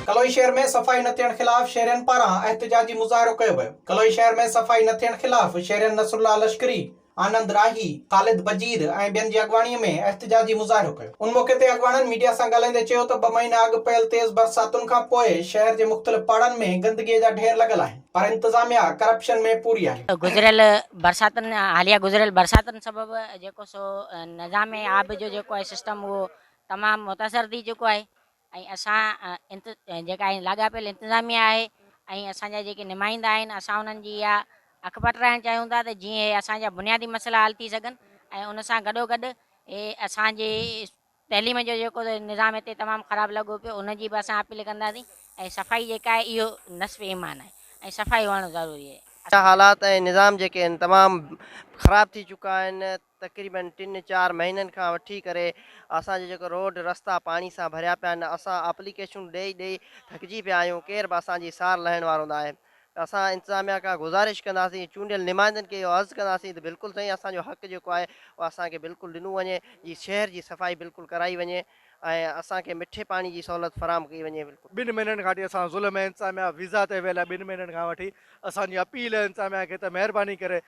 ڪلوئي شهر ۾ صفائي نه ٿيڻ خلاف شهرين پاران احتجاجي مظاهرو ڪيو ويو ڪلوئي شهر ۾ صفائي نه ٿيڻ خلاف شهرين نصرالله لشڪري، آنند راهي، خالد بجير ۽ ٻين جي اڳواڻي ۾ احتجاجي مظاهرو ڪيو ان موقعي تي اڳواڻن ميڊيا سان ڳالهائيندي چيو ته ٻه مهينا اڳ پيل تيز برساتن کان پوء شهر جي مختلف پاڙن ۾ گندگي جا ڍير لڳل آهن، پر انتظاميا ڪرپشن ۾ پوري آهي. گذريل برساتن حاليا گذريل برساتن سبب جيڪو سو نظام آب جو جيڪو آهي سسٽم اهو تمام متاثر ٿي چڪو آهي ۽ اسان انت جيڪا آهي لاڳاپيل انتظاميا آهي ۽ اسان جا جيڪي نمائندا آهن اسان انهن جي اها اک پٽرائڻ چاهيون ٿا ته جيئن هي اسان جا بنيادي مسئلا حل ٿي سگهن ۽ ان سان گڏوگڏ هي اسان جي تعليم جو جيڪو نظام هتي تمام خراب لڳو پيو ان جي به اسان اپيل ڪنداسين ۽ صفائي جيڪا آهي اهو نصف ايمان آهي ۽ صفائي هئڻ ضروري آهي. اهڙا حالات ۽ نظام جيڪي آهن تمام خراب ٿي چڪا آهن تقريبن ٽن چار مهينن کان وٺي ڪري اسان جا جيڪو روڊ رستا پاڻي سان ڀريا پيا آهن اسان اپليڪيشنون ڏئي ڏئي ٿڪجي پيا آهيون ڪير به اسان جي سار لهڻ وارو ناهي اسان انتظاميا کان گذارش ڪنداسين، چونڊيل نمائندن کي اهو عرض ڪنداسين ته بلڪل سائين اسان جو حق جيڪو آهي اهو اسان کي بلڪل ڏنو وڃي جي شهر جي صفائي بلڪل ڪرائي وڃي ۽ اسان کي مٺي پاڻي جي سهولت فراهم ڪئي وڃي بلڪل. ٻن مهينن کان وٺي اسان ظلم ۾ انتظاميا ويزا تي ويل آهي ٻن مهينن کان وٺي اسان جي اپيل آهي انتظاميا کي ته مهرباني ڪري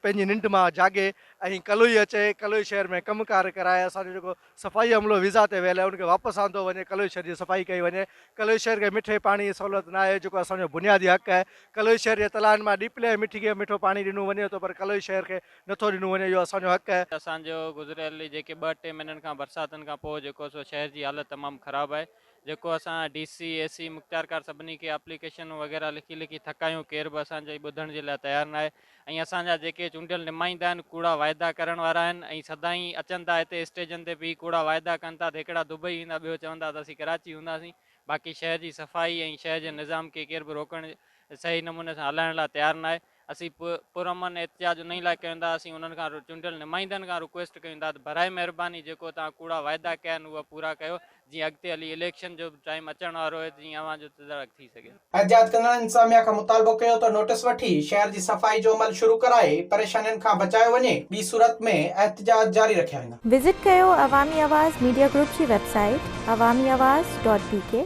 پنهنجي ننڊ مان جاڳي ۽ ڪلوئي اچي ڪلوئي شهر ۾ ڪم ڪار ڪرائي اسان جو جيڪو صفائي عملو ويزا تي ويل آهي ان کي واپس آندو وڃي ڪلوئي شهر جي صفائي ڪئي وڃي ڪلوئي شهر کي مٺي پاڻي جي سهولت نه آهي جيڪو اسان جو بنيادي حق آهي ڪلوئي شهر جي تلائن مان ڏيپلي ۽ مٺي کي مٺو پاڻي ڏنو وڃي ٿو پر ڪلوئي شهر کي نٿو ڏنو وڃي اهو اسان جو حق آهي. اسان جو گذريل جيڪي ٻه ٽي مهينن کان برساتن کان پوء جيڪو سو شهر جي حالت تمام خراب آهي جيڪو اسان ڊي سي اي سي مختيارڪار سڀني کي اپليڪيشنون وغيره لکي لکي ٿڪايون ڪير به اسان جي ٻڌڻ جي لاء تيار ناهي ۽ اسان جا جيڪي چونڊيل نمائندا آهن ڪوڙا واعدا ڪرڻ وارا آهن ۽ سدائين اچن ٿا هتي اسٽيجن تي بيهي ڪوڙا واعدا ڪن ٿا ته هڪڙا دبئي ويندا ٻيو چوندا ته اسين ڪراچي هونداسين باقي شهر جي صفائي ۽ شهر جي نظام کي ڪير به روڪڻ صحيح نموني سان هلائڻ لاء تيار ناهي اسين پرامن احتجاج انهي لاء ڪيون ٿا اسين انهن کان چونڊيل نمائندن کان رڪويسٽ ڪيون ٿا ته براء مهرباني جيڪو توهان ڪوڙا واعدا ڪيا آهن اهي پورا ڪيو جيئن اڳتي هلي اليڪشن جو به ٽائيم اچڻ وارو آهي ته جيئن اوهان جو تدارڪ ٿي سگهي. احتجاج ڪندڙن انتظاميا کان مطالبو ڪيو ته نوٽيس وٺي شهر جي صفائي جو عمل شروع ڪرائي پريشانين کان بچايو وڃي ٻي صورت ۾ احتجاج جاري رکيا ويندا. وزٽ ڪيو عوامي آواز ميڊيا گروپ جي website Awami Awaz dot بي ڪي.